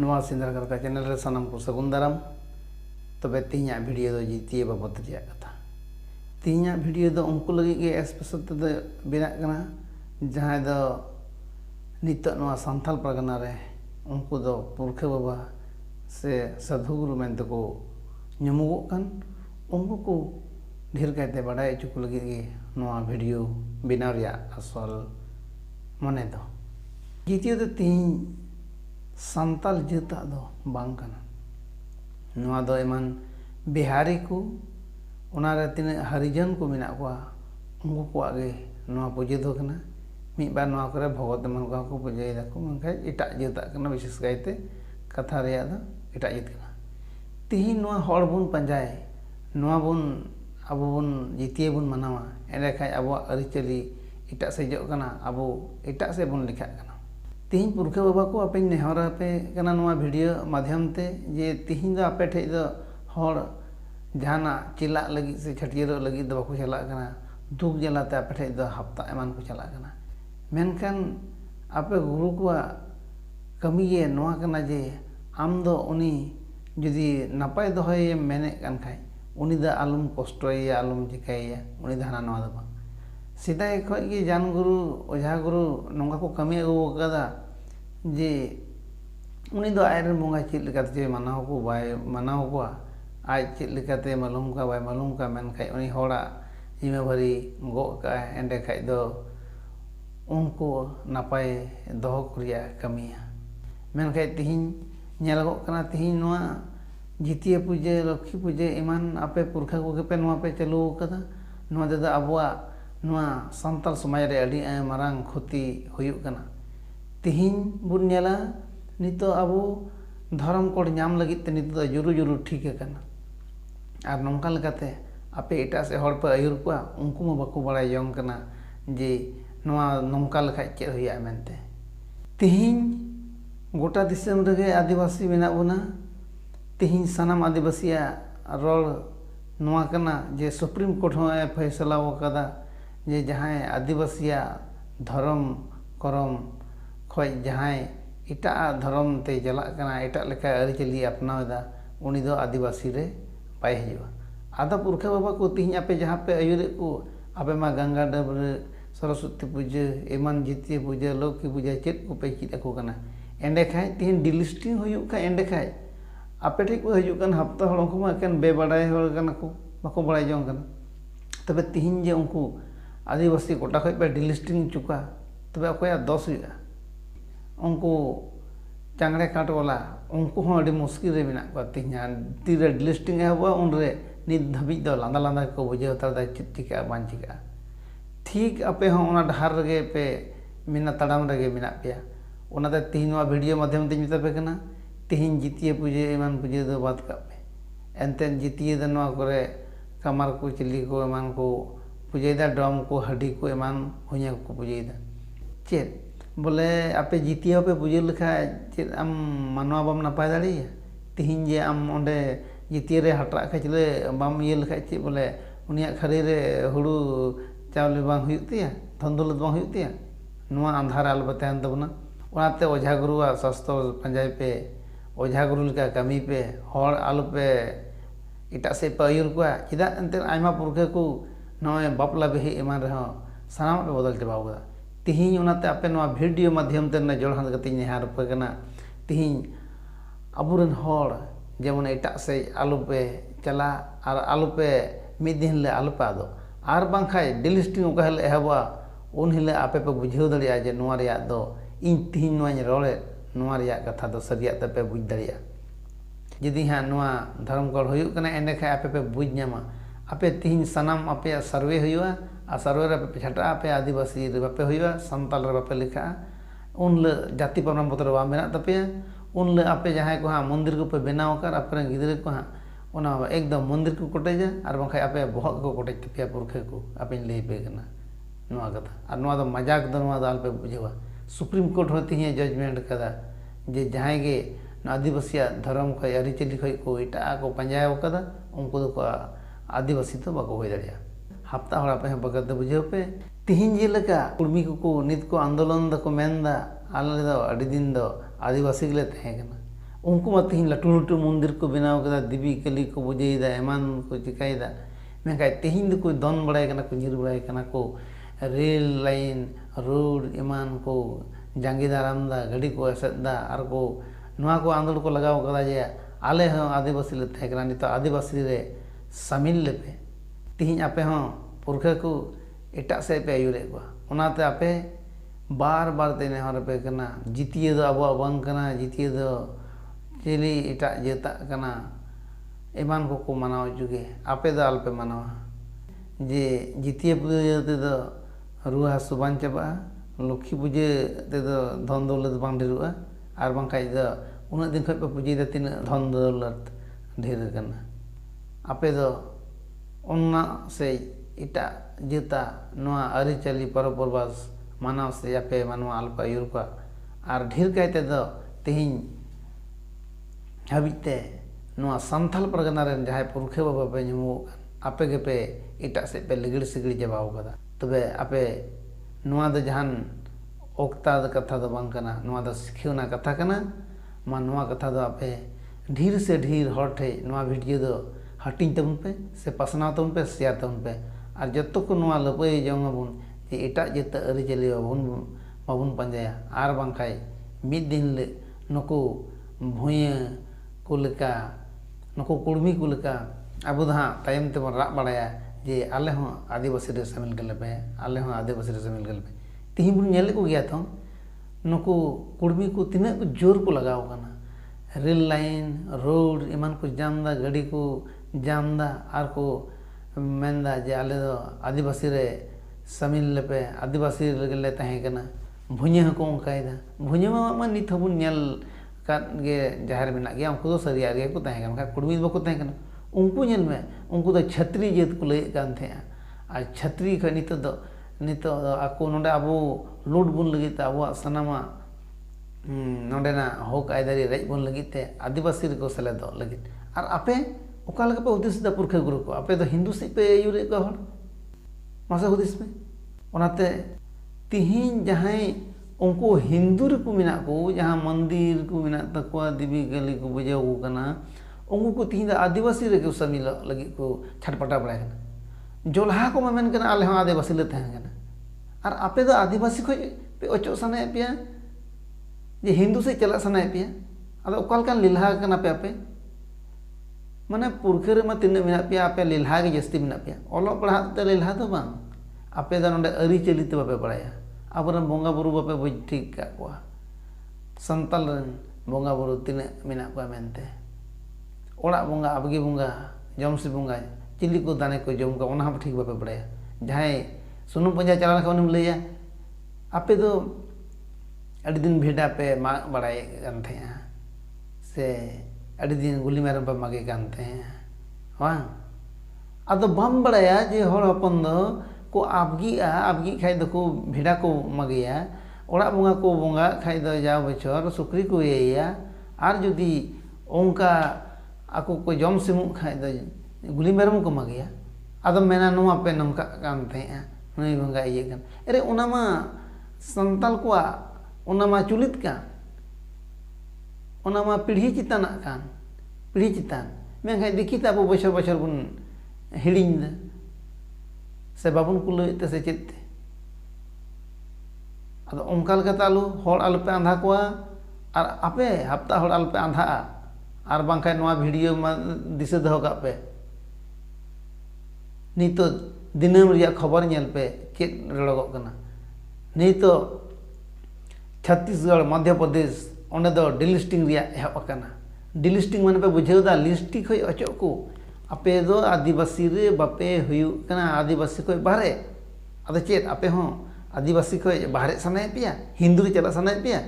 ᱱᱚᱣᱟ ᱥᱮᱸᱫᱽᱨᱟ ᱠᱟᱨᱠᱟ ᱪᱮᱱᱮᱞ ᱨᱮ ᱥᱟᱱᱟᱢ ᱠᱚ ᱥᱟᱹᱜᱩᱱ ᱫᱟᱨᱟᱢ ᱛᱚᱵᱮ ᱛᱮᱦᱮᱧᱟᱜ ᱵᱷᱤᱰᱤᱭᱳ ᱫᱚ ᱡᱤᱛᱤᱭᱟᱹ ᱵᱟᱵᱚᱛ ᱨᱮᱭᱟᱜ ᱠᱟᱛᱷᱟ ᱛᱮᱦᱮᱧᱟᱜ ᱵᱷᱤᱰᱤᱭᱳ ᱫᱚ ᱩᱱᱠᱩ ᱞᱟᱹᱜᱤᱫ ᱜᱮ ᱮᱥᱯᱮᱥᱟᱞ ᱛᱮᱫᱚ ᱵᱮᱱᱟᱜ ᱠᱟᱱᱟ ᱡᱟᱦᱟᱸᱭ ᱫᱚ ᱱᱤᱛᱚᱜ ᱱᱚᱣᱟ ᱥᱟᱱᱛᱟᱲ ᱯᱟᱨᱜᱟᱱᱟ ᱨᱮ ᱩᱱᱠᱩ ᱫᱚ ᱯᱩᱨᱠᱷᱟᱹ ᱵᱟᱵᱟ ᱥᱮ ᱥᱟᱹᱫᱷᱩ ᱜᱩᱨᱩ ᱢᱮᱱᱛᱮ ᱠᱚ ᱧᱩᱢᱚᱜᱚᱜ ᱠᱟᱱ ᱩᱱᱠᱩ ᱠᱚ ᱰᱷᱮᱨ ᱠᱟᱭᱛᱮ ᱵᱟᱰᱟᱭ ᱦᱚᱪᱚ ᱠᱚ ᱞᱟᱹᱜᱤᱫ ᱜᱮ ᱱᱚᱣᱟ ᱵᱷᱤᱰᱤᱭᱳ ᱵᱮᱱᱟᱣ ᱨᱮᱭᱟᱜ ᱟᱥᱚᱞ ᱢᱚᱱᱮ ᱫᱚ ᱡᱤᱛᱤᱭᱟᱹ ᱫᱚ ᱛᱮᱦᱮᱧ ᱥᱟᱱᱛᱟᱞ ᱡᱟᱹᱛ ᱟᱜ ᱫᱚ ᱵᱟᱝ ᱠᱟᱱᱟ᱾ ᱱᱚᱣᱟ ᱫᱚ ᱮᱢᱟᱱ ᱵᱤᱦᱟᱨᱤ ᱠᱚ, ᱚᱱᱟ ᱨᱮ ᱛᱤᱱᱟᱹᱜ ᱦᱟᱨᱤᱡᱚᱱ ᱠᱚ ᱢᱮᱱᱟᱜ ᱠᱚᱣᱟ ᱩᱱᱠᱩ ᱠᱚᱣᱟᱜ ᱜᱮ ᱱᱚᱣᱟ ᱯᱩᱡᱟᱹ ᱫᱚ ᱠᱟᱱᱟ᱾ ᱢᱤᱫ ᱵᱟᱨ ᱱᱚᱣᱟ ᱠᱚᱨᱮ ᱵᱷᱚᱜᱚᱛ ᱮᱢᱟᱱ ᱠᱚ ᱦᱚᱸ ᱠᱚ ᱯᱩᱡᱟᱹᱭ ᱮᱫᱟ ᱠᱚ ᱢᱮᱱᱠᱷᱟᱱ ᱮᱴᱟᱜ ᱡᱟᱹᱛ ᱟᱜ ᱠᱟᱱᱟ ᱵᱤᱥᱮᱥ ᱠᱟᱭᱛᱮ ᱠᱟᱛᱷᱟ ᱨᱮᱭᱟᱜ ᱫᱚ ᱮᱴᱟᱜ ᱡᱟᱹᱛ ᱠᱟᱱᱟ᱾ ᱛᱤᱦᱤᱧ ᱱᱚᱣᱟ ᱦᱚᱲ ᱵᱚᱱ ᱯᱟᱸᱡᱟᱭ ᱱᱚᱣᱟ ᱵᱚᱱ ᱟᱵᱚ ᱵᱚᱱ ᱡᱤᱛᱤᱭᱟᱹ ᱵᱚᱱ ᱢᱟᱱᱟᱣᱟ ᱮᱸᱰᱮ ᱠᱷᱟᱱ ᱟᱵᱚᱣᱟᱜ ᱟᱹᱨᱤᱪᱟᱹᱞᱤ ᱮᱴᱟᱜ ᱥᱮᱡᱚᱜ ᱠᱟᱱᱟ ᱟᱵᱚ ᱮᱴᱟᱜ ᱥᱮᱫ ᱵᱚᱱ ᱞᱮᱠᱷᱟᱜ ᱠᱟᱱᱟ᱾ ᱛᱤᱦᱤᱧ ᱯᱩᱨᱠᱷᱟᱹ ᱵᱟᱵᱟ ᱠᱚ ᱟᱯᱮᱧ ᱱᱮᱦᱚᱨ ᱟᱯᱮ ᱠᱟᱱᱟ ᱱᱚᱣᱟ ᱵᱷᱤᱰᱤᱭᱳ ᱢᱟᱫᱷᱭᱚᱢ ᱛᱮ ᱡᱮ ᱛᱤᱦᱤᱧ ᱫᱚ ᱟᱯᱮ ᱴᱷᱮᱡ ᱫᱚ ᱦᱚᱲ ᱡᱟᱦᱟᱱᱟᱜ ᱪᱮᱞᱟᱜ ᱞᱟᱹᱜᱤᱫ ᱥᱮ ᱪᱷᱟᱹᱴᱭᱟᱹᱨᱚᱜ ᱞᱟᱹᱜᱤᱫ ᱫᱚ ᱵᱟᱠᱚ ᱪᱟᱞᱟᱜ ᱠᱟᱱᱟ ᱫᱩᱠ ᱡᱟᱞᱟ ᱛᱮ ᱟᱯᱮ ᱴᱷᱮᱡ ᱫᱚ ᱦᱟᱯᱛᱟ ᱮᱢᱟᱱ ᱠᱚ ᱪᱟᱞᱟᱜ ᱠᱟᱱᱟ ᱢᱮᱱᱠᱷᱟᱱ ᱟᱯᱮ ᱜᱩᱨᱩ ᱠᱚᱣᱟᱜ ᱠᱟᱹᱢᱤ ᱜᱮ ᱱᱚᱣᱟ ᱠᱟᱱᱟ ᱡᱮ ᱟᱢ ᱫᱚ ᱩᱱᱤ ᱡᱩᱫᱤ ᱱᱟᱯᱟᱭ ᱫᱚᱦᱚᱭᱮᱢ ᱢᱮᱱᱮᱫ ᱠᱟᱱ ᱠᱷᱟᱡ ᱩᱱᱤ ᱫᱚ ᱟᱞᱚᱢ ᱠᱚᱥᱴᱚᱭᱮᱭᱟ ᱟᱞᱚᱢ ᱪᱤᱠᱟᱹᱭᱮᱭᱟ ᱩᱱᱤ ᱫᱚ ᱦᱟᱱᱟ ᱱᱚᱣᱟ ᱫᱚ ᱵᱟᱝ ᱥᱮᱫᱟᱭ ᱠᱷᱚᱡ ᱜᱮ ᱡᱟᱱ ᱜᱩᱨᱩ ᱚᱡᱷᱟ ᱜᱩᱨᱩ ᱱᱚᱝᱠᱟ ᱠᱚ ᱠᱟᱹᱢᱤ ᱟᱹᱜᱩ ᱟᱠᱟᱫᱟ ᱡᱮ ᱩᱱᱤ ᱫᱚ ᱟᱡ ᱨᱮᱱ ᱵᱚᱸᱜᱟ ᱪᱮᱫ ᱞᱮᱠᱟ ᱛᱮᱪᱚᱭ ᱢᱟᱱᱟᱣ ᱠᱚ ᱵᱟᱭ ᱢᱟᱱᱟᱣ ᱠᱚᱣᱟ ᱟᱡ ᱪᱮᱫ ᱞᱮᱠᱟᱛᱮ ᱢᱟᱹᱞᱩᱢ ᱠᱚᱣᱟ ᱵᱟᱭ ᱢᱟᱹᱞᱩᱢ ᱠᱚᱣᱟ ᱢᱮᱱᱠᱷᱟᱡ ᱩᱱᱤ ᱦᱚᱲᱟᱜ ᱡᱤᱢᱟᱹ ᱵᱷᱟᱹᱨᱤ ᱜᱚᱜ ᱠᱟᱜ ᱟᱭ ᱮᱸᱰᱮ ᱠᱷᱟᱡ ᱫᱚ ᱩᱱᱠᱩ ᱱᱟᱯᱟᱭ ᱫᱚᱦᱚ ᱠᱚ ᱨᱮᱭᱟᱜ ᱮ ᱠᱟᱹᱢᱤᱭᱟ ᱢᱮᱱᱠᱷᱟᱡ ᱛᱮᱦᱮᱧ ᱧᱮᱞᱚᱜᱚᱜ ᱠᱟᱱᱟ ᱛᱮᱦᱮᱧ ᱱᱚᱣᱟ ᱡᱤᱛᱭᱟᱹ ᱯᱩᱡᱟᱹ ᱞᱚᱠᱠᱷᱤ ᱯᱩᱡᱟᱹ ᱮᱢᱟᱱ ᱟᱯᱮ ᱯᱩᱨᱠᱷᱟᱹ ᱠᱚᱜᱮ ᱯᱮ ᱱᱚᱣᱟ ᱯᱮ ᱪᱟᱹᱞᱩ ᱟᱠᱟᱫᱟ ᱱᱚᱣᱟ ᱛᱮᱫᱚ ᱟᱵᱚᱣᱟᱜ ᱱᱚᱣᱟ ᱥᱟᱱᱛᱟᱲ ᱥᱚᱢᱟᱡᱽ ᱨᱮ ᱟᱹᱰᱤ ᱢᱟᱨᱟᱝ ᱠᱷᱚᱛᱤ ᱦᱩᱭᱩᱜ ᱠᱟᱱᱟ ᱛᱮᱦᱮᱧ ᱵᱚᱱ ᱧᱮᱞᱟ ᱱᱤᱛᱚᱜ ᱟᱵᱚ ᱫᱷᱚᱨᱚᱢ ᱠᱳᱰ ᱧᱟᱢ ᱞᱟᱹᱜᱤᱫ ᱛᱮ ᱱᱤᱛᱚᱜ ᱫᱚ ᱡᱩᱨᱩ ᱡᱩᱨᱩ ᱴᱷᱤᱠ ᱟᱠᱟᱱᱟ ᱟᱨ ᱱᱚᱝᱠᱟ ᱞᱮᱠᱟᱛᱮ ᱟᱯᱮ ᱮᱴᱟᱜ ᱥᱮᱫ ᱦᱚᱲ ᱯᱮ ᱟᱹᱭᱩᱨ ᱠᱚᱣᱟ ᱩᱱᱠᱩ ᱢᱟ ᱵᱟᱠᱚ ᱵᱟᱲᱟᱭ ᱡᱚᱝ ᱠᱟᱱᱟ ᱡᱮ ᱱᱚᱣᱟ ᱱᱚᱝᱠᱟ ᱞᱮᱠᱷᱟᱱ ᱪᱮᱫ ᱦᱩᱭᱩᱜᱼᱟ ᱢᱮᱱᱛᱮ ᱛᱮᱦᱮᱧ ᱜᱳᱴᱟ ᱫᱤᱥᱚᱢ ᱨᱮᱜᱮ ᱟᱹᱫᱤᱵᱟᱹᱥᱤ ᱢᱮᱱᱟᱜ ᱵᱚᱱᱟ ᱛᱮᱦᱮᱧ ᱥᱟᱱᱟᱢ ᱟᱹᱫᱤᱵᱟᱹᱥᱤᱭᱟᱜ ᱨᱚᱲ ᱱᱚᱣᱟ ᱠᱟᱱᱟ ᱡᱮ ᱥᱩᱯᱨᱤᱢ ᱠᱳᱨᱴ ᱦᱚᱸ ᱮ ᱯᱷᱚᱭᱥᱟᱞᱟ ᱟᱠᱟᱫᱟ ᱡᱮ ᱡᱟᱦᱟᱸᱭ ᱟᱹᱫᱤᱵᱟᱹᱥᱤᱭᱟᱜ ᱫᱷᱚᱨᱚᱢ ᱠᱚᱨᱚᱢ ᱠᱷᱚᱡ ᱡᱟᱦᱟᱸᱭ ᱮᱴᱟᱜ ᱟᱜ ᱫᱷᱚᱨᱚᱢ ᱛᱮᱭ ᱪᱟᱞᱟᱜ ᱠᱟᱱᱟ, ᱮᱴᱟᱜ ᱞᱮᱠᱟ ᱟᱹᱨᱤᱪᱟᱹᱞᱤᱭ ᱟᱯᱱᱟᱣ ᱮᱫᱟ, ᱩᱱᱤ ᱫᱚ ᱟᱹᱫᱤᱵᱟᱹᱥᱤ ᱨᱮ ᱵᱟᱭ ᱦᱤᱡᱩᱜᱼᱟ᱾ ᱟᱫᱚ ᱯᱩᱨᱠᱷᱟᱹ ᱵᱟᱵᱟ ᱠᱚ ᱛᱤᱦᱤᱧ ᱟᱯᱮ ᱡᱟᱦᱟᱸ ᱯᱮ ᱟᱹᱭᱩᱨᱮᱫ ᱠᱚ, ᱟᱯᱮ ᱢᱟ ᱜᱟᱝᱜᱟ ᱰᱟᱹᱵᱽᱨᱟᱹ, ᱥᱚᱨᱚᱥᱚᱛᱤ ᱯᱩᱡᱟᱹ, ᱮᱢᱟᱱ ᱡᱤᱛᱭᱟᱹ ᱯᱩᱡᱟᱹ, ᱞᱚᱠᱠᱷᱤ ᱯᱩᱡᱟᱹ ᱪᱮᱫ ᱠᱚᱯᱮ ᱪᱮᱫ ᱟᱠᱚ ᱠᱟᱱᱟ᱾ ᱮᱸᱰᱮ ᱠᱷᱟᱡ ᱛᱤᱦᱤᱧ ᱰᱤᱞᱤᱥᱴᱤᱝ ᱦᱩᱭᱩᱜ ᱠᱷᱟᱡ ᱮᱸᱰᱮ ᱠᱷᱟᱡ᱾ ᱟᱯᱮ ᱴᱷᱮᱱ ᱠᱚ ᱦᱤᱡᱩᱜ ᱠᱟᱱ ᱦᱟᱯᱛᱟ ᱦᱚᱲ ᱩᱱᱠᱩ ᱢᱟ ᱮᱠᱮᱱ ᱵᱮᱵᱟᱰᱟᱭ ᱦᱚᱲ ᱠᱟᱱᱟ ᱠᱚ ᱵᱟᱠᱚ ᱵᱟᱲᱟᱭ ᱡᱚᱝ ᱠᱟᱱᱟ ᱛᱚᱵᱮ ᱛᱮᱦᱮᱧ ᱡᱮ ᱩᱱᱠᱩ ᱟᱹᱫᱤᱵᱟᱹᱥᱤ ᱜᱚᱴᱟ ᱠᱷᱚᱱ ᱯᱮ ᱰᱤᱞᱤᱥᱴᱤᱝ ᱦᱚᱪᱚ ᱠᱚᱣᱟ ᱛᱚᱵᱮ ᱚᱠᱚᱭᱟᱜ ᱫᱚᱥ ᱦᱩᱭᱩᱜᱼᱟ ᱩᱱᱠᱩ ᱪᱟᱝᱲᱮ ᱠᱟᱴ ᱵᱟᱞᱟ ᱩᱱᱠᱩ ᱦᱚᱸ ᱟᱹᱰᱤ ᱢᱩᱥᱠᱤᱞ ᱨᱮ ᱢᱮᱱᱟᱜ ᱠᱚᱣᱟ ᱛᱮᱦᱮᱧᱟᱜ ᱛᱤᱨᱮ ᱰᱤᱞᱤᱥᱴᱤᱝ ᱮᱦᱚᱵᱚᱜᱼᱟ ᱩᱱᱨᱮ ᱱᱤᱛ ᱫᱷᱟᱹᱵᱤᱡ ᱫᱚ ᱞᱟᱸᱫᱟ ᱞᱟᱸᱫᱟ ᱜᱮᱠᱚ ᱵᱩᱡᱷᱟᱹᱣ ᱦᱟᱛᱟᱲᱮᱫᱟ ᱪᱮᱫ ᱪᱤᱠᱟᱹᱜᱼᱟ ᱵᱟᱝ ᱪᱤᱠᱟᱹᱜᱼᱟ ᱴᱷᱤᱠ ᱟᱯᱮ ᱦᱚᱸ ᱚᱱᱟ ᱰᱟᱦᱟᱨ ᱨᱮᱜᱮ ᱯᱮ ᱢᱮᱱᱟ ᱛᱟᱲᱟᱢ ᱨᱮᱜᱮ ᱢᱮᱱᱟᱜ ᱯᱮᱭᱟ ᱚᱱᱟᱛᱮ ᱛᱮᱦᱮᱧ ᱱᱚᱣᱟ ᱵᱷᱤᱰᱤᱭᱳ ᱢᱟᱫᱽᱫᱷᱚᱢ ᱛᱤᱧ ᱢᱮᱛᱟ ᱯᱮ ᱠᱟᱱᱟ ᱛᱤᱦᱤᱧ ᱡᱤᱛᱤᱭᱟᱹ ᱯᱩᱡᱟᱹ ᱮᱢᱟᱱ ᱯᱩᱡᱟᱹ ᱫᱚ ᱵᱟᱫᱽ ᱠᱟᱜ ᱯᱮ᱾ ᱮᱱᱛᱮᱫ ᱡᱤᱛᱤᱭᱟᱹ ᱫᱚ ᱱᱚᱣᱟ ᱠᱚᱨᱮ ᱠᱟᱢᱟᱨ ᱠᱚ ᱪᱤᱞᱤ ᱠᱚ ᱮᱢᱟᱱ ᱠᱚ ᱯᱩᱡᱟᱹᱭᱮᱫᱟ ᱰᱚᱢ ᱠᱚ ᱦᱟᱹᱰᱤ ᱠᱚ ᱮᱢᱟᱱ ᱦᱩᱧᱟᱹ ᱠᱚᱠᱚ ᱯᱩᱡᱟᱹᱭᱮᱫᱟ᱾ ᱪᱮᱫ ᱵᱚᱞᱮ ᱟᱯᱮ ᱡᱤᱛᱤᱭᱟᱹ ᱦᱚᱸ ᱯᱮ ᱯᱩᱡᱟᱹ ᱞᱮᱠᱷᱟᱡ ᱪᱮᱫ ᱟᱢ ᱢᱟᱱᱣᱟ ᱵᱟᱢ ᱱᱟᱯᱟᱭ ᱫᱟᱲᱮᱭᱟᱭᱟ? ᱛᱤᱦᱤᱧ ᱡᱮ ᱟᱢ ᱚᱸᱰᱮ ᱡᱤᱛᱤᱭᱟᱹ ᱨᱮ ᱦᱟᱴᱟᱜ ᱠᱷᱟᱹᱪᱞᱟᱹᱜ ᱵᱟᱢ ᱤᱭᱟᱹ ᱞᱮᱠᱷᱟᱡ ᱪᱮᱫ ᱵᱚᱞᱮ ᱩᱱᱤᱭᱟᱜ ᱠᱷᱟᱹᱨᱟᱹᱭ ᱨᱮ ᱦᱩᱲᱩ ᱪᱟᱣᱞᱮ ᱵᱟᱝ ᱦᱩᱭᱩᱜ ᱛᱟᱭᱟ? ᱫᱷᱚᱱ ᱫᱩᱞᱟᱹᱛ ᱵᱟᱝ ᱦᱩᱭᱩᱜ ᱛᱟᱭᱟ? ᱱᱚᱣᱟ ᱟᱸᱫᱷᱟ ᱨᱮ ᱟᱞᱚᱯᱮ ᱛᱟᱦᱮᱱ ᱛᱟᱵᱚᱱᱟ᱾ ᱚᱱᱟᱛᱮ ᱚᱡᱷᱟ ᱜᱩᱨᱩᱣᱟᱜ ᱥᱟᱥᱛᱚ ᱯᱟᱸᱡᱟᱭ ᱯᱮ᱾ ᱚᱡᱷᱟ ᱜᱩᱨᱩ ᱞᱮᱠᱟ ᱠᱟᱹᱢᱤᱭ ᱯᱮ᱾ ᱦᱚᱲ ᱟᱞᱚᱯᱮ ᱮᱴᱟᱜ ᱥᱮᱫ ᱯᱮ ᱟᱹᱭᱩᱨ ᱠᱚᱣᱟ᱾ ᱪᱮᱫᱟᱜ ᱮᱱᱛᱮᱫ ᱟᱭᱢᱟ ᱯᱩᱨᱠᱷᱟᱹ ᱠᱚ ᱱᱚᱜᱼᱚᱭ ᱵᱟᱯᱞᱟ ᱵᱤᱦᱟᱹ ᱮᱢᱟᱱ ᱨᱮᱦᱚᱸ ᱥᱟᱱᱟᱢᱟᱜ ᱯᱮ ᱵᱚᱫᱚᱞ ᱪᱟᱵᱟ ᱟᱠᱟᱫᱟ᱾ ᱛᱤᱦᱤᱧ ᱚᱱᱟᱛᱮ ᱟᱯᱮ ᱱᱚᱣᱟ ᱵᱷᱤᱰᱤᱭᱳ ᱢᱟᱫᱷᱭᱚᱢ ᱛᱮ ᱱᱚᱰᱮ ᱡᱚᱲᱦᱟᱸᱫᱽ ᱠᱟᱛᱮᱧ ᱱᱮᱦᱟᱨ ᱟᱯᱮ ᱠᱟᱱᱟ ᱛᱤᱦᱤᱧ ᱟᱵᱚ ᱨᱮᱱ ᱦᱚᱲ ᱡᱮᱢᱚᱱ ᱮᱴᱟᱜ ᱥᱮᱫ ᱟᱞᱚᱯᱮ ᱪᱟᱞᱟᱜ ᱟᱨ ᱟᱞᱚᱯᱮ ᱢᱤᱫ ᱫᱤᱱ ᱦᱤᱞᱟᱹᱜ ᱟᱞᱚᱯᱮ ᱟᱫᱚᱜ᱾ ᱟᱨ ᱵᱟᱝᱠᱷᱟᱡ ᱰᱤᱞᱤᱥᱴᱤᱝ ᱚᱠᱟ ᱦᱤᱞᱟᱹᱜ ᱮᱦᱚᱵᱚᱜᱼᱟ ᱩᱱ ᱦᱤᱞᱟᱹᱜ ᱟᱯᱮ ᱯᱮ ᱵᱩᱡᱷᱟᱹᱣ ᱫᱟᱲᱮᱭᱟᱜᱼᱟ ᱡᱮ ᱱᱚᱶᱟ ᱨᱮᱭᱟᱜ ᱫᱚ ᱤᱧ ᱛᱤᱦᱤᱧ ᱱᱚᱶᱟᱧ ᱨᱚᱲ ᱮᱫ ᱱᱚᱶᱟ ᱨᱮᱭᱟᱜ ᱠᱟᱛᱷᱟ ᱫᱚ ᱥᱟᱹᱨᱤᱭᱟᱜ ᱛᱮ ᱯᱮ ᱵᱩᱡᱽ ᱫᱟᱲᱮᱭᱟᱜᱼᱟ᱾ ᱡᱩᱫᱤ ᱦᱟᱸᱜ ᱱᱚᱶᱟ ᱫᱷᱚᱨᱚᱢ ᱜᱚᱲ ᱦᱩᱭᱩᱜ ᱠᱟᱱᱟ ᱮᱸᱰᱮ ᱠᱷᱟᱡ ᱟᱯᱮ ᱯᱮ ᱵᱩᱡᱽ ᱧᱟᱢᱟ᱾ ᱟᱯᱮ ᱛᱤᱦᱤᱧ ᱥᱟᱱᱟᱢ ᱟᱯᱮᱭᱟᱜ ᱥᱟᱨᱣᱮ ᱦᱩᱭᱩᱜᱼᱟ ᱟᱨ ᱥᱟᱨᱣᱮ ᱨᱮ ᱟᱯᱮ ᱯᱮ ᱪᱷᱟᱴᱟᱜᱼᱟ ᱟᱯᱮ ᱟᱹᱫᱤᱵᱟᱹᱥᱤ ᱨᱮ ᱵᱟᱯᱮ ᱦᱩᱭᱩᱜᱼᱟ ᱥᱟᱱᱛᱟᱞ ᱨᱮ ᱵᱟᱯᱮ ᱞᱮᱠᱷᱟᱜᱼᱟ ᱩᱱ ᱦᱤᱞᱟᱹᱜ ᱡᱟᱹᱛᱤ ᱯᱨᱚᱢᱟᱱ ᱯᱚᱛᱨᱚ ᱵᱟᱝ ᱵᱮᱱᱟᱜ ᱛᱟᱯᱮᱭᱟ ᱩᱱ ᱦᱤᱞᱟᱹᱜ ᱟᱯᱮ ᱡᱟᱦᱟᱸᱭ ᱠᱚ ᱦᱟᱸᱜ ᱢᱚᱱᱫᱤᱨ ᱠᱚ ᱯᱮ ᱵᱮᱱᱟᱣ ᱟᱠᱟᱫ ᱟᱯᱮ ᱨᱮᱱ ᱜᱤᱫᱽᱨᱟᱹ ᱠᱚ ᱦᱟᱸᱜ ᱚᱱᱟ ᱮᱠᱫᱚᱢ ᱢᱚᱱᱫᱤᱨ ᱠᱚ ᱠᱚᱴᱮᱡᱟ ᱟᱨ ᱵᱟᱝᱠᱷᱟᱡ ᱟᱯᱮᱭᱟᱜ ᱵᱚᱦᱚᱜ ᱜᱮᱠᱚ ᱠᱚᱴᱮᱡ ᱛᱟᱯᱮᱭᱟ ᱯᱩᱨᱠᱷᱟᱹ ᱠᱚ ᱟᱯᱮᱧ ᱞᱟᱹᱭ ᱟᱯᱮ ᱠᱟᱱᱟ᱾ ᱱᱚᱣᱟ ᱠᱟᱛᱷᱟ ᱟᱨ ᱱᱚᱣᱟ ᱫᱚ ᱢᱟᱡᱟᱠ ᱫᱚ ᱱᱚᱣᱟ ᱫᱚ ᱟᱞᱚᱯᱮ ᱵᱩᱡᱷᱟᱹᱣᱟ ᱥᱩᱯᱨᱤᱢ ᱠᱳᱨᱴ ᱦᱚᱸ ᱛᱮᱦᱮᱧ ᱮ ᱡᱟᱡᱽᱢᱮᱱᱴ ᱟᱠᱟᱫᱟ ᱡᱮ ᱡᱟᱦᱟᱸᱭ ᱜᱮ ᱱᱚᱣᱟ ᱟᱹᱫᱤᱵᱟᱹᱥᱤᱭᱟᱜ ᱫᱷᱚᱨᱚᱢ ᱠᱷᱚᱱ ᱟᱹᱨᱤᱪᱟᱹᱞᱤ ᱠᱷᱚᱱ ᱠᱚ ᱮᱴᱟᱜ ᱟᱜ ᱠᱚ ᱯᱟᱸᱡᱟ ᱟᱠᱟᱫᱟ ᱩᱱᱠᱩ ᱫᱚᱠᱚ ᱟᱹᱫᱤᱵᱟᱹᱥᱤ ᱫᱚ ᱵᱟᱠᱚ ᱦᱩᱭ ᱫᱟᱲᱮᱭᱟᱜᱼᱟ ᱦᱟᱯᱛᱟ ᱦᱚᱲ ᱟᱯᱮ ᱦᱚᱸ ᱵᱟᱜᱟᱨ ᱫᱚ ᱵᱩᱡᱷᱟᱹᱣ ᱯᱮ ᱛᱮᱦᱮᱧ ᱡᱮᱞᱮᱠᱟ ᱠᱩᱲᱢᱤ ᱠᱚᱠᱚ ᱱᱤᱛ ᱠᱚ ᱟᱱᱫᱳᱞᱚᱱ ᱫᱟᱠᱚ ᱢᱮᱱ ᱮᱫᱟ ᱟᱞᱮ ᱫᱚ ᱟᱹᱰᱤ ᱫᱤᱱ ᱫᱚ ᱟᱹᱫᱤᱵᱟᱹᱥᱤ ᱜᱮᱞᱮ ᱛᱟᱦᱮᱸ ᱠᱟᱱᱟ ᱩᱱᱠᱩ ᱢᱟ ᱛᱮᱦᱮᱧ ᱞᱟᱹᱴᱩ ᱞᱟᱹᱴᱩ ᱢᱚᱱᱫᱤᱨ ᱠᱚ ᱵᱮᱱᱟᱣ ᱠᱮᱫᱟ ᱫᱮᱵᱤ ᱠᱟᱹᱞᱤ ᱠᱚ ᱯᱩᱡᱟᱹᱭᱮᱫᱟ ᱮᱢᱟᱱ ᱠᱚ ᱪᱤᱠᱟᱹᱭᱮᱫᱟ ᱢᱮᱱᱠᱷᱟᱱ ᱛᱮᱦᱮᱧ ᱫᱚᱠᱚ ᱫᱚᱱ ᱵᱟᱲᱟᱭ ᱠᱟᱱᱟ ᱠᱚ ᱧᱤᱨ ᱵᱟᱲᱟᱭ ᱠᱟᱱᱟ ᱠᱚ ᱨᱮᱞ ᱞᱟᱭᱤᱱ ᱨᱳᱰ ᱮᱢᱟᱱ ᱠᱚ ᱡᱟᱸᱜᱮ ᱫᱟᱨᱟᱢ ᱮᱫᱟ ᱜᱟᱹᱰᱤ ᱠᱚ ᱮᱥᱮᱫ ᱮᱫᱟ ᱟᱨ ᱠᱚ ᱱᱚᱣᱟ ᱠᱚ ᱟᱸᱫᱳᱲ ᱠᱚ ᱞᱟᱜᱟᱣ ᱠᱟᱫᱟ ᱡᱮ ᱟᱞᱮ ᱦᱚᱸ ᱟᱹᱫᱤᱵᱟᱹᱥᱤ ᱞᱮ ᱛᱟᱦᱮᱸ ᱠᱟᱱᱟ ᱱᱤᱛᱚᱜ ᱟᱹᱫᱤᱵᱟᱹᱥᱤ ᱨᱮ ᱥᱟᱹᱢᱤᱞ ᱞᱮᱯᱮ ᱛᱮᱦᱮᱧ ᱟᱯᱮ ᱦᱚᱸ ᱯᱩᱨᱠᱷᱟᱹ ᱠᱚ ᱮᱴᱟᱜ ᱥᱮᱫ ᱯᱮ ᱟᱹᱭᱩᱨᱮᱫ ᱠᱚᱣᱟ ᱚᱱᱟᱛᱮ ᱟᱯᱮ ᱵᱟᱨ ᱵᱟᱨ ᱛᱮ ᱱᱮᱦᱚᱨ ᱟᱯᱮ ᱠᱟᱱᱟ ᱡᱟᱹᱛᱤᱭᱟᱹ ᱫᱚ ᱟᱵᱚᱣᱟᱜ ᱵᱟᱝ ᱠᱟᱱᱟ ᱡᱟᱹᱛᱤᱭᱟᱹ ᱫᱚ ᱪᱤᱞᱤ ᱮᱴᱟᱜ ᱡᱟᱹᱛᱟᱜ ᱠᱟᱱᱟ ᱮᱢᱟᱱ ᱠᱚᱠᱚ ᱢᱟᱱᱟᱣ ᱚᱪᱚ ᱜᱮ ᱟᱯᱮ ᱫᱚ ᱟᱞᱚᱯᱮ ᱢᱟᱱᱟᱣᱟ ᱡᱮ ᱡᱤᱛᱤᱭᱟᱹ ᱯᱩᱡᱟᱹ ᱛᱮᱫᱚ ᱨᱩᱣᱟᱹ ᱦᱟᱹᱥᱩ ᱵᱟᱝ ᱪᱟᱵᱟᱜᱼᱟ ᱞᱚᱠᱠᱷᱤ ᱯᱩᱡᱟᱹ ᱛᱮᱫᱚ ᱫᱷᱚᱱ ᱫᱳᱣᱞᱚᱛ ᱵᱟᱝ ᱰᱷᱮᱨᱚᱜᱼᱟ ᱟᱨ ᱵᱟᱝᱠᱷᱟᱱ ᱫᱚ ᱩᱱᱟᱹᱜ ᱫᱤᱱ ᱠᱷᱚᱱ ᱯᱮ ᱯᱩᱡᱟᱹᱭᱮᱫᱟ ᱛᱤᱱᱟᱹᱜ ᱫᱷᱚᱱ ᱫᱳᱣᱞᱚᱛ ᱰᱷᱮᱨ ᱟᱠᱟᱱᱟ ᱟᱯᱮ ᱫᱚ ᱚᱱᱟ ᱥᱮ ᱮᱴᱟᱜ ᱡᱟᱹᱛᱟᱜ ᱱᱚᱣᱟ ᱟᱹᱨᱤᱪᱟᱹᱞᱤ ᱯᱚᱨᱚᱵᱽ ᱯᱚᱨᱵᱟᱥ ᱢᱟᱱᱟᱣ ᱥᱮ ᱟᱯᱮ ᱢᱟᱱᱣᱟ ᱟᱞᱚᱯᱮ ᱟᱹᱭᱩᱨ ᱠᱚᱣᱟ ᱟᱨ ᱰᱷᱮᱨ ᱠᱟᱭ ᱛᱮᱫᱚ ᱛᱮᱦᱮᱧ ᱦᱟᱹᱵᱤᱡ ᱛᱮ ᱱᱚᱣᱟ ᱥᱟᱱᱛᱟᱞ ᱯᱟᱨᱜᱟᱱᱟ ᱨᱮᱱ ᱡᱟᱦᱟᱸᱭ ᱯᱩᱨᱩᱠᱷᱤᱭᱟᱹ ᱵᱟᱵᱟ ᱯᱮ ᱧᱩᱢᱚᱜ ᱠᱟᱱ ᱟᱯᱮ ᱜᱮᱯᱮ ᱮᱴᱟᱜ ᱥᱮᱫ ᱯᱮ ᱞᱤᱜᱤᱲ ᱥᱤᱜᱤᱲ ᱪᱟᱵᱟ ᱟᱠᱟᱫᱟ ᱛᱚᱵᱮ ᱟᱯᱮ ᱱᱚᱣᱟ ᱫᱚ ᱡᱟᱦᱟᱱ ᱚᱠᱛᱟ ᱠᱟᱛᱷᱟ ᱫᱚ ᱵᱟᱝ ᱠᱟᱱᱟ ᱱᱚᱣᱟ ᱫᱚ ᱥᱤᱠᱷᱟᱹᱣᱱᱟ ᱠᱟᱛᱷᱟ ᱠᱟᱱᱟ ᱢᱟ ᱱᱚᱣᱟ ᱠᱟᱛᱷᱟ ᱫᱚ ᱟᱯᱮ ᱰᱷᱤᱨ ᱥᱮ ᱰᱷᱤᱨ ᱦᱚᱲ ᱴᱷᱮᱱ ᱱᱚᱣᱟ ᱵᱷᱤᱰᱤᱭᱳ ᱫᱚ ᱦᱟᱹᱴᱤᱧ ᱛᱟᱵᱚᱱ ᱯᱮ ᱥᱮ ᱯᱟᱥᱱᱟᱣ ᱛᱟᱵᱚᱱ ᱯᱮ ᱥᱮᱭᱟᱨ ᱛᱟᱵᱚᱱ ᱯᱮ ᱟᱨ ᱡᱚᱛᱚ ᱠᱚ ᱱᱚᱣᱟ ᱞᱟᱹᱯᱟᱹᱭ ᱡᱚᱝ ᱟᱵᱚᱱ ᱡᱮ ᱮᱴᱟᱜ ᱡᱟᱹᱛᱟᱜ ᱟᱹᱨᱤᱪᱟᱹᱞᱤ ᱵᱟᱵᱚᱱ ᱵᱟᱵᱚᱱ ᱯᱟᱸᱡᱟᱭᱟ ᱟᱨ ᱵᱟᱝᱠᱷᱟᱱ ᱢᱤᱫ ᱫᱤᱱ ᱦᱤᱞᱳᱜ ᱱᱩᱠᱩ ᱵᱷᱩᱸᱭᱟᱹ ᱠᱚ ᱞᱮᱠᱟ, ᱱᱩᱠᱩ ᱠᱩᱲᱢᱤ ᱠᱚ ᱞᱮᱠᱟ ᱟᱵᱚ ᱫᱚ ᱦᱟᱸᱜ ᱛᱟᱭᱚᱢ ᱛᱮᱵᱚᱱ ᱨᱟᱜ ᱵᱟᱲᱟᱭᱟ ᱡᱮ ᱟᱞᱮ ᱦᱚᱸ ᱟᱹᱫᱤᱵᱟᱹᱥᱤ ᱨᱮ ᱥᱟᱹᱢᱤᱞ ᱠᱟᱞᱮ ᱯᱮ, ᱟᱞᱮ ᱦᱚᱸ ᱟᱹᱫᱤᱵᱟᱹᱥᱤ ᱨᱮ ᱥᱟᱹᱢᱤᱞ ᱠᱟᱞᱮ ᱯᱮ᱾ ᱛᱤᱦᱤᱧ ᱵᱚᱱ ᱧᱮᱞᱮᱫ ᱠᱚ ᱜᱮᱭᱟ ᱛᱚ ᱱᱩᱠᱩ ᱠᱩᱲᱢᱤ ᱠᱚ ᱛᱤᱱᱟᱹᱜ ᱠᱚ ᱡᱳᱨ ᱠᱚ ᱞᱟᱜᱟᱣ ᱟᱠᱟᱱᱟ᱾ ᱨᱮᱞ ᱞᱟᱭᱤᱱ, ᱨᱳᱰ ᱮᱢᱟᱱ ᱠᱚ ᱡᱟᱢ ᱮᱫᱟ, ᱜᱟᱹᱰᱤ ᱠᱚ ᱡᱟᱢ ᱮᱫᱟ ᱟᱨ ᱠᱚ ᱢᱮᱱ ᱮᱫᱟ ᱡᱮ ᱟᱞᱮ ᱫᱚ ᱟᱹᱫᱤᱵᱟᱹᱥᱤ ᱨᱮ ᱥᱟᱹᱢᱤᱞ ᱞᱮᱯᱮ, ᱟᱹᱫᱤᱵᱟᱹᱥᱤ ᱨᱮᱜᱮ ᱞᱮ ᱛᱟᱦᱮᱸ ᱠᱟᱱᱟ᱾ ᱵᱷᱩᱧᱟᱹ ᱦᱚᱸᱠᱚ ᱚᱱᱠᱟᱭᱮᱫᱟ ᱵᱷᱩᱧᱟᱹ ᱢᱟ ᱱᱤᱛ ᱦᱚᱸᱵᱚᱱ ᱧᱮᱞ ᱟᱠᱟᱫ ᱜᱮ ᱡᱟᱦᱮᱨ ᱢᱮᱱᱟᱜ ᱜᱮᱭᱟ ᱩᱱᱠᱩ ᱫᱚ ᱥᱟᱹᱨᱤᱭᱟᱜ ᱜᱮᱠᱚ ᱛᱟᱦᱮᱸ ᱠᱟᱱᱟ ᱵᱟᱠᱷᱟᱱ ᱠᱩᱲᱢᱤ ᱫᱚ ᱵᱟᱠᱚ ᱛᱟᱦᱮᱸ ᱠᱟᱱᱟ ᱩᱱᱠᱩ ᱧᱮᱞ ᱢᱮ ᱩᱱᱠᱩ ᱫᱚ ᱪᱷᱟᱹᱛᱨᱤ ᱡᱟᱹᱛ ᱠᱚ ᱞᱟᱹᱭᱮᱫ ᱠᱟᱱ ᱛᱟᱦᱮᱸᱜᱼᱟ ᱟᱨ ᱪᱷᱟᱹᱛᱨᱤ ᱠᱷᱚᱱ ᱱᱤᱛᱚᱜ ᱫᱚ ᱱᱤᱛᱚᱜ ᱫᱚ ᱟᱠᱚ ᱱᱚᱰᱮ ᱟᱵᱚ ᱞᱩᱴ ᱵᱚᱱ ᱞᱟᱹᱜᱤᱫ ᱛᱮ ᱟᱵᱚᱣᱟᱜ ᱥᱟᱱᱟᱢᱟᱜ ᱱᱚᱰᱮᱱᱟᱜ ᱦᱚᱸᱠ ᱟᱹᱭᱫᱟᱹᱨᱤ ᱨᱮᱡ ᱵᱚᱱ ᱞᱟᱹᱜᱤᱫ ᱛᱮ ᱟᱹᱫᱤᱵᱟᱹᱥᱤ ᱨᱮᱠᱚ ᱥᱮᱞᱮᱫᱚᱜ ᱞᱟᱹᱜᱤᱫ ᱟᱨ ᱟᱯᱮ ᱚᱠᱟ ᱞᱮᱠᱟ ᱯᱮ ᱦᱩᱫᱤᱥ ᱮᱫᱟ ᱯᱩᱨᱠᱷᱟᱹ ᱜᱩᱨᱩ ᱠᱚ ᱟᱯᱮ ᱫᱚ ᱦᱤᱱᱫᱩ ᱥᱮᱫ ᱯᱮ ᱟᱹᱭᱩᱨᱮᱫ ᱠᱚᱣᱟ ᱦᱚᱲ ᱢᱟᱥᱮ ᱦᱩᱫᱤᱥ ᱢᱮ ᱚᱱᱟᱛᱮ ᱛᱤᱦᱤᱧ ᱡᱟᱦᱟᱸᱭ ᱩᱱᱠᱩ ᱦᱤᱱᱫᱩ ᱨᱮᱠᱚ ᱢᱮᱱᱟᱜ ᱠᱚ ᱡᱟᱦᱟᱸ ᱢᱚᱱᱫᱤᱨ ᱠᱚ ᱢᱮᱱᱟᱜ ᱛᱟᱠᱚᱣᱟ ᱫᱮᱵᱤ ᱠᱟᱹᱞᱤ ᱠᱚ ᱯᱩᱡᱟᱹ ᱟᱠᱚ ᱠᱟᱱᱟ ᱩᱱᱠᱩ ᱠᱚ ᱛᱤᱦᱤᱧ ᱫᱚ ᱟᱹᱫᱤᱵᱟᱹᱥᱤ ᱨᱮᱜᱮ ᱥᱟᱹᱢᱤᱞᱚᱜ ᱞᱟᱹᱜᱤᱫ ᱠᱚ ᱪᱷᱟᱴᱯᱟᱴᱟᱣ ᱵᱟᱲᱟᱭ ᱠᱟᱱᱟ ᱡᱚᱞᱦᱟ ᱠᱚᱢᱟ ᱢᱮᱱ ᱠᱟᱱᱟ ᱟᱞᱮ ᱦᱚᱸ ᱟᱹᱫᱤᱵᱟᱹᱥᱤ ᱞᱮ ᱛᱟᱦᱮᱱ ᱠᱟᱱᱟ ᱟᱨ ᱟᱯᱮ ᱫᱚ ᱟᱹᱫᱤᱵᱟᱹᱥᱤ ᱠᱷᱚᱱ ᱯᱮ ᱚᱪᱚᱜ ᱥᱟᱱᱟᱭᱮᱫ ᱯᱮᱭᱟ ᱡᱮ ᱦᱤᱱᱫᱩ ᱥᱮᱫ ᱪᱟᱞᱟᱜ ᱥᱟᱱᱟᱭᱮᱫ ᱯᱮᱭᱟ ᱟᱫᱚ ᱚᱠᱟ ᱞᱮᱠᱟᱱ ᱞᱮᱞᱦᱟ ᱠᱟᱱᱟ ᱯᱮ ᱟᱯᱮ ᱢᱟᱱᱮ ᱯᱩᱨᱠᱷᱟᱹ ᱨᱮᱢᱟ ᱛᱤᱱᱟᱹᱜ ᱢᱮᱱᱟᱜ ᱯᱮᱭᱟ ᱟᱯᱮ ᱞᱮᱞᱦᱟ ᱜᱮ ᱡᱟᱹᱥᱛᱤ ᱢᱮᱱᱟᱜ ᱯᱮᱭᱟ ᱚᱞᱚᱜ ᱯᱟᱲᱦᱟᱜ ᱛᱮ ᱞᱮᱞᱦᱟ ᱫᱚ ᱵᱟᱝ ᱟᱯᱮ ᱫᱚ ᱱᱚᱰᱮ ᱟᱹᱨᱤᱪᱟᱹᱞᱤ ᱛᱮ ᱵᱟᱯᱮ ᱵᱟᱲᱟᱭᱟ ᱟᱵᱚ ᱨᱮᱱ ᱵᱚᱸᱜᱟ ᱵᱩᱨᱩ ᱵᱟᱯᱮ ᱵᱩᱡᱽ ᱴᱷᱤᱠ ᱟᱠᱟᱫ ᱠᱚᱣᱟ ᱥᱟᱱᱛᱟᱞ ᱨᱮᱱ ᱵᱚᱸᱜᱟ ᱵᱩᱨᱩ ᱛᱤᱱᱟᱹᱜ ᱢᱮᱱᱟᱜ ᱠᱚᱣᱟ ᱢᱮᱱᱛᱮ ᱚᱲᱟᱜ ᱵᱚᱸᱜᱟ ᱟᱵᱽᱜᱮ ᱵᱚᱸᱜᱟ ᱡᱚᱢᱥᱤ ᱵᱚᱸᱜᱟ ᱪᱤᱞᱤ ᱠᱚ ᱫᱟᱲᱮ ᱠᱚ ᱡᱚᱢ ᱠᱚᱣᱟ ᱚᱱᱟ ᱦᱚᱸ ᱴᱷᱤᱠ ᱵᱟᱯᱮ ᱵᱟᱲᱟᱭᱟ ᱡᱟᱦᱟᱸᱭ ᱥᱩᱱᱩᱢ ᱯᱟᱸᱡᱟᱭ ᱪᱟᱞᱟᱣ ᱞᱮᱱᱠᱷᱟᱱ ᱩᱱᱤᱢ ᱞᱟᱹᱭᱟ ᱟᱯᱮ ᱫᱚ ᱟᱹᱰᱤ ᱫᱤᱱ ᱵᱷᱮᱰᱟ ᱯᱮ ᱢᱟᱜ ᱵᱟᱲᱟᱭᱮᱫ ᱠᱟᱱ ᱛᱟᱦᱮᱸᱫᱼᱟ ᱥᱮ ᱟᱹᱰᱤ ᱫᱤᱱ ᱜᱩᱞᱤ ᱢᱮᱨᱚᱢ ᱯᱮ ᱢᱟᱜᱮ ᱠᱟᱱ ᱛᱟᱦᱮᱸᱫᱼᱟ ᱵᱟᱝ ᱟᱫᱚ ᱵᱟᱢ ᱵᱟᱲᱟᱭᱟ ᱡᱮ ᱦᱚᱲ ᱦᱚᱯᱚᱱ ᱫᱚ ᱠᱚ ᱟᱵᱽᱜᱮᱜᱼᱟ ᱟᱵᱽᱜᱮᱜ ᱠᱷᱟᱱ ᱫᱚᱠᱚ ᱵᱷᱮᱰᱟ ᱠᱚ ᱢᱟᱜᱮᱭᱟ ᱚᱲᱟᱜ ᱵᱚᱸᱜᱟ ᱠᱚ ᱵᱚᱸᱜᱟᱜ ᱠᱷᱟᱱ ᱫᱚ ᱡᱟᱣ ᱵᱚᱪᱷᱚᱨ ᱥᱩᱠᱨᱤ ᱠᱚ ᱤᱭᱟᱹᱭᱮᱭᱟ ᱟᱨ ᱡᱩᱫᱤ ᱚᱱᱠᱟ ᱟᱠᱚ ᱠᱚ ᱡᱚᱢ ᱥᱤᱢᱚᱜ ᱠᱷᱟᱱ ᱫᱚ ᱜᱩᱞᱤ ᱢᱮᱨᱚᱢ ᱠᱚ ᱢᱟᱜᱮᱭᱟ ᱟᱫᱚᱢ ᱢᱮᱱᱟ ᱱᱚᱣᱟ ᱯᱮ ᱱᱚᱝᱠᱟᱜ ᱠᱟᱱ ᱛᱟᱦᱮᱸᱫᱼᱟ ᱱᱩᱭ ᱵᱚᱸᱜᱟᱭ ᱤᱭᱟᱹᱜ ᱠᱟᱱᱟ ᱟᱨᱮ ᱚᱱᱟ ᱢᱟ ᱥᱟᱱᱛᱟᱲ ᱠᱚᱣᱟᱜ ᱚᱱᱟ ᱢᱟ ᱪᱚᱞᱤᱛ ᱠᱟᱱ ᱚᱱᱟ ᱢᱟ ᱯᱤᱲᱦᱤ ᱪᱮᱛᱟᱱᱟᱜ ᱠᱟᱱ ᱯᱤᱲᱦᱤ ᱪᱮᱛᱟᱱ ᱢᱮᱱᱠᱷᱟᱱ ᱫᱤᱠᱷᱤ ᱛᱚ ᱟᱵᱚ ᱵᱚᱪᱷᱚᱨ ᱵᱚᱪᱷᱚᱨ ᱵᱚᱱ ᱦᱤᱲᱤᱧ ᱮᱫᱟ ᱥᱮ ᱵᱟᱵᱚᱱ ᱠᱩᱞᱟᱹᱣᱮᱫ ᱛᱮ ᱥᱮ ᱪᱮᱫ ᱛᱮ ᱟᱫᱚ ᱚᱱᱠᱟ ᱞᱮᱠᱟᱛᱮ ᱟᱞᱚ ᱦᱚᱲ ᱟᱞᱚᱯᱮ ᱟᱸᱫᱷᱟ ᱠᱚᱣᱟ ᱟᱨ ᱟᱯᱮ ᱦᱟᱯᱛᱟ ᱦᱚᱲ ᱟᱞᱚᱯᱮ ᱟᱸᱫᱷᱟᱜᱼᱟ ᱟᱨ ᱵᱟᱝᱠᱷᱟᱱ ᱱᱚᱣᱟ ᱵᱷᱤᱰᱤᱭᱳ ᱢᱟ ᱫᱤᱥᱟᱹ ᱫᱚᱦᱚ ᱠᱟᱜ ᱯᱮ ᱱᱤᱛᱚᱜ ᱫᱤᱱᱟᱹᱢ ᱨᱮᱭᱟᱜ ᱠᱷᱚᱵᱚᱨ ᱧᱮᱞ ᱯᱮ ᱪᱮᱫ ᱨᱚᱲᱚᱜᱚᱜ ᱠᱟᱱᱟ ᱱᱤᱛᱚᱜ ᱪᱷᱟᱛᱤᱥᱜᱚᱲ, ᱢᱚᱫᱷᱭᱚ ᱯᱨᱚᱫᱮᱥ, ᱚᱸᱰᱮ ᱫᱚ ᱰᱤᱞᱤᱥᱴᱤᱝ ᱨᱮᱭᱟᱜ ᱮᱦᱚᱵ ᱟᱠᱟᱱᱟ᱾ ᱰᱤᱞᱤᱥᱴᱤᱝ ᱢᱟᱱᱮ ᱯᱮ ᱵᱩᱡᱷᱟᱹᱣ ᱮᱫᱟ ᱞᱤᱥᱴᱤ ᱠᱷᱚᱡ ᱚᱪᱚᱜ ᱠᱚ᱾ ᱟᱯᱮ ᱫᱚ ᱟᱹᱫᱤᱵᱟᱹᱥᱤ ᱨᱮ ᱵᱟᱯᱮ ᱦᱩᱭᱩᱜ ᱠᱟᱱᱟ ᱟᱹᱫᱤᱵᱟᱹᱥᱤ ᱠᱷᱚᱡ ᱵᱟᱦᱨᱮ᱾ ᱟᱫᱚ ᱪᱮᱫ ᱟᱯᱮ ᱦᱚᱸ ᱟᱹᱫᱤᱵᱟᱹᱥᱤ ᱠᱷᱚᱡ ᱵᱟᱦᱨᱮᱜ ᱥᱟᱱᱟᱭᱮᱫ ᱯᱮᱭᱟ? ᱦᱤᱱᱫᱩ ᱨᱮ ᱪᱟᱞᱟᱜ ᱥᱟᱱᱟᱭᱮᱫ ᱯᱮᱭᱟ?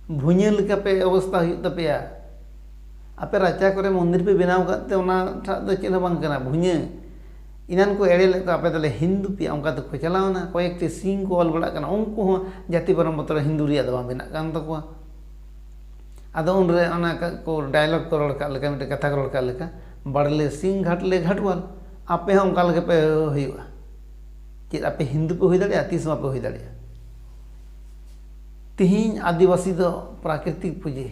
ᱵᱷᱩᱧᱟᱹ ᱞᱮᱠᱟ ᱯᱮ ᱚᱵᱚᱥᱛᱟ ᱦᱩᱭᱩᱜ ᱛᱟᱯᱮᱭᱟ᱾ ᱟᱯᱮ ᱨᱟᱪᱟ ᱠᱚᱨᱮ ᱢᱚᱱᱫᱤᱨ ᱯᱮ ᱵᱮᱱᱟᱣ ᱟᱠᱟᱫ ᱛᱮ ᱚᱱᱟ ᱴᱷᱟᱜ ᱫᱚ ᱪᱮᱫ ᱦᱚᱸ ᱵᱟᱝ ᱠᱟᱱᱟ᱾ ᱵᱷᱩᱧᱟᱹ᱾ ᱮᱱᱟᱱ ᱠᱚ ᱮᱲᱮ ᱞᱮᱫ ᱠᱚᱣᱟ ᱟᱯᱮ ᱫᱚᱞᱮ ᱦᱤᱱᱫᱩ ᱯᱮᱭᱟ ᱚᱱᱠᱟ ᱛᱮᱠᱚ ᱪᱟᱞᱟᱣᱱᱟ ᱠᱚᱭᱮᱠᱴᱤ ᱥᱤᱝ ᱠᱚ ᱚᱞ ᱵᱟᱲᱟᱜ ᱠᱟᱱᱟ ᱩᱱᱠᱩ ᱦᱚᱸ ᱡᱟᱹᱛᱤ ᱯᱟᱨᱚᱢ ᱵᱚᱛᱚᱨ ᱦᱤᱱᱫᱩ ᱨᱮᱭᱟᱜ ᱫᱚ ᱵᱟᱝ ᱵᱮᱱᱟᱜ ᱠᱟᱱ ᱛᱟᱠᱚᱣᱟ ᱟᱫᱚ ᱩᱱᱨᱮ ᱚᱱᱟ ᱠᱚ ᱰᱟᱭᱞᱚᱜᱽ ᱠᱚ ᱨᱚᱲ ᱠᱟᱜ ᱞᱮᱠᱟ ᱢᱤᱫᱴᱮᱱ ᱠᱟᱛᱷᱟ ᱠᱚ ᱨᱚᱲ ᱠᱟᱜ ᱞᱮᱠᱟ ᱵᱟᱲᱞᱮ ᱥᱤᱝ ᱜᱷᱟᱴᱞᱮ ᱜᱷᱟᱴᱣᱟᱞ ᱟᱯᱮ ᱦᱚᱸ ᱚᱱᱠᱟ ᱞᱮᱠᱟ ᱯᱮ ᱦᱩᱭᱩᱜᱼᱟ ᱪᱮᱫ ᱟᱯᱮ ᱦᱤᱱᱫᱩ ᱯᱮ ᱦᱩᱭ ᱫᱟᱲᱮᱭᱟᱜᱼᱟ ᱛᱤᱥ ᱦᱚᱸ ᱵᱟᱯᱮ ᱦᱩᱭ ᱫᱟᱲᱮᱭᱟᱜᱼᱟ ᱛᱤᱦᱤᱧ ᱟᱹᱫᱤᱵᱟᱹᱥᱤ ᱫᱚ ᱯᱨᱟᱠᱨᱤᱛᱤᱠ ᱯᱩᱡᱟᱹ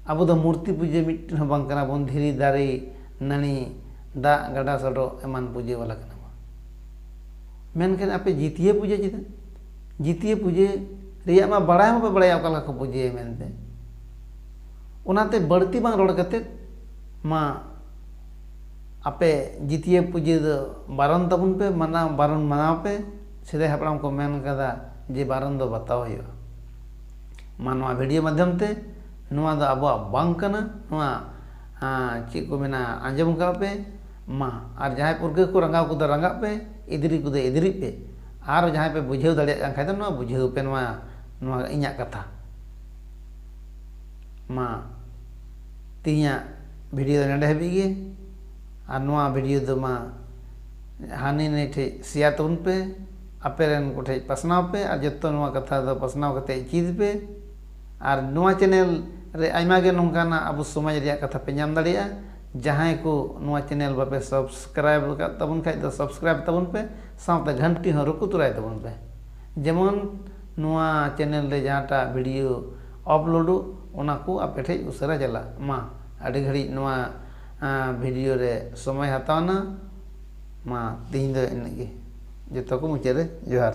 ᱟᱵᱚ ᱫᱚ ᱢᱩᱨᱛᱤ ᱯᱩᱡᱟᱹ ᱢᱤᱫᱴᱮᱱ ᱦᱚᱸ ᱵᱟᱝ ᱠᱟᱱᱟ ᱵᱚᱱ ᱫᱷᱤᱨᱤ ᱫᱟᱨᱮ ᱱᱟᱹᱲᱤ, ᱫᱟᱜ, ᱜᱟᱰᱟ ᱥᱚᱰᱚᱜ ᱮᱢᱟᱱ ᱯᱩᱡᱟᱹ ᱵᱟᱞᱟ ᱠᱟᱱᱟ ᱵᱚᱱ᱾ ᱢᱮᱱᱠᱷᱟᱱ ᱟᱯᱮ ᱡᱤᱛᱭᱟᱹ ᱯᱩᱡᱟᱹ ᱪᱮᱫᱟᱜ? ᱡᱤᱛᱭᱟᱹ ᱯᱩᱡᱟᱹ ᱨᱮᱭᱟᱜ ᱢᱟ ᱵᱟᱲᱟᱭ ᱦᱚᱸ ᱵᱟᱯᱮ ᱵᱟᱲᱟᱭᱟ ᱚᱠᱟ ᱞᱮᱠᱟ ᱠᱚ ᱯᱩᱡᱟᱹᱭᱟ ᱢᱮᱱᱛᱮ᱾ ᱚᱱᱟᱛᱮ ᱵᱟᱹᱲᱛᱤ ᱵᱟᱝ ᱨᱚᱲ ᱠᱟᱛᱮ ᱢᱟ ᱟᱯᱮ ᱡᱤᱛᱭᱟᱹ ᱯᱩᱡᱟᱹ ᱫᱚ ᱵᱟᱨᱚᱱ ᱛᱟᱵᱚᱱ ᱯᱮ, ᱢᱟᱱᱟᱣ ᱵᱟᱨᱚᱱ ᱢᱟᱱᱟᱣ ᱯᱮ᱾ ᱥᱮᱫᱟᱭ ᱦᱟᱯᱲᱟᱢ ᱠᱚ ᱢᱮᱱ ᱟᱠᱟᱫᱟ ᱡᱮ ᱵᱟᱨᱚᱱ ᱫᱚ ᱵᱟᱛᱟᱣ ᱦᱩᱭᱩᱜᱼᱟ᱾ ᱢᱟ ᱱᱚᱣᱟ ᱵᱷᱤᱰᱤᱭᱳ ᱢᱟᱫᱷᱭᱚᱢ ᱛᱮ ᱱᱚᱣᱟ ᱫᱚ ᱟᱵᱚᱣᱟᱜ ᱵᱟᱝ ᱠᱟᱱᱟ, ᱱᱚᱣᱟ ᱦᱟᱸ ᱪᱮᱫ ᱠᱚ ᱢᱮᱱᱟ ᱟᱸᱡᱚᱢ ᱠᱟᱜ ᱯᱮ ᱢᱟ ᱟᱨ ᱡᱟᱦᱟᱸᱭ ᱯᱟᱹᱨᱠᱟᱹᱣ ᱠᱚ ᱨᱟᱸᱜᱟᱣ ᱠᱚᱫᱚ ᱨᱟᱸᱜᱟᱜ ᱯᱮ ᱮᱫᱽᱨᱮ ᱠᱚᱫᱚ ᱮᱫᱽᱨᱮᱜ ᱯᱮ ᱟᱨ ᱡᱟᱦᱟᱸᱭ ᱯᱮ ᱵᱩᱡᱷᱟᱹᱣ ᱫᱟᱲᱮᱭᱟᱜ ᱠᱟᱱ ᱠᱷᱟᱱ ᱫᱚ ᱱᱚᱣᱟ ᱵᱩᱡᱷᱟᱹᱣ ᱯᱮ ᱱᱚᱣᱟ ᱱᱚᱣᱟ ᱤᱧᱟᱹᱜ ᱠᱟᱛᱷᱟ ᱢᱟ ᱛᱮᱦᱮᱧᱟᱜ ᱵᱷᱤᱰᱤᱭᱳ ᱫᱚ ᱱᱚᱸᱰᱮ ᱦᱟᱹᱵᱤᱡ ᱜᱮ ᱟᱨ ᱱᱚᱣᱟ ᱵᱷᱤᱰᱤᱭᱳ ᱫᱚ ᱢᱟ ᱦᱟᱹᱱᱤ ᱱᱟᱹᱭ ᱴᱷᱮᱡ ᱥᱮᱭᱟᱨ ᱛᱟᱵᱚᱱ ᱯᱮ ᱟᱯᱮ ᱨᱮᱱ ᱠᱚᱴᱷᱮᱡ ᱯᱟᱥᱱᱟᱣ ᱯᱮ ᱟᱨ ᱡᱚᱛᱚ ᱱᱚᱣᱟ ᱠᱟᱛᱷᱟ ᱫᱚ ᱯᱟᱥᱱᱟᱣ ᱠᱟᱛᱮ ᱪᱮᱫ ᱯᱮ ᱟᱨ ᱱᱚᱣᱟ ᱪᱮᱱᱮᱞ ᱨᱮ ᱟᱭᱢᱟ ᱜᱮ ᱱᱚᱝᱠᱟᱱᱟᱜ ᱟᱵᱚ ᱥᱚᱢᱟᱡᱽ ᱨᱮᱭᱟᱜ ᱠᱟᱛᱷᱟ ᱯᱮ ᱧᱟᱢ ᱫᱟᱲᱮᱭᱟᱜᱼᱟ ᱡᱟᱦᱟᱸᱭ ᱠᱚ ᱱᱚᱣᱟ ᱪᱮᱱᱮᱞ ᱵᱟᱯᱮ ᱥᱚᱵᱥᱠᱨᱟᱭᱤᱵᱽ ᱟᱠᱟᱫ ᱛᱟᱵᱚᱱ ᱠᱷᱟᱱ ᱫᱚ ᱥᱚᱵᱥᱠᱨᱟᱭᱤᱵᱽ ᱛᱟᱵᱚᱱ ᱯᱮ ᱥᱟᱶᱛᱮ ᱜᱷᱟᱱᱴᱤ ᱦᱚᱸ ᱨᱩᱠᱩ ᱛᱚᱨᱟᱭ ᱛᱟᱵᱚᱱ ᱯᱮ ᱡᱮᱢᱚᱱ ᱱᱚᱣᱟ ᱪᱮᱱᱮᱞ ᱨᱮ ᱡᱟᱦᱟᱸᱴᱟᱜ ᱵᱷᱤᱰᱤᱭᱳ ᱟᱯᱞᱳᱰᱚᱜ ᱚᱱᱟ ᱠᱚ ᱟᱯᱮ ᱴᱷᱮᱱ ᱩᱥᱟᱹᱨᱟ ᱪᱟᱞᱟᱜ ᱢᱟ ᱟᱹᱰᱤ ᱜᱷᱟᱹᱲᱤᱡ ᱱᱚᱣᱟ ᱵᱷᱤᱰᱤᱭᱳ ᱨᱮ ᱥᱚᱢᱚᱭ ᱦᱟᱛᱟᱣ ᱮᱱᱟ ᱢᱟ ᱛᱮᱦᱮᱧ ᱫᱚ ᱤᱱᱟᱹᱜ ᱜᱮ ᱡᱚᱛᱚ ᱠᱚ ᱢᱩᱪᱟᱹᱫ ᱨᱮ ᱡᱚᱦᱟᱨ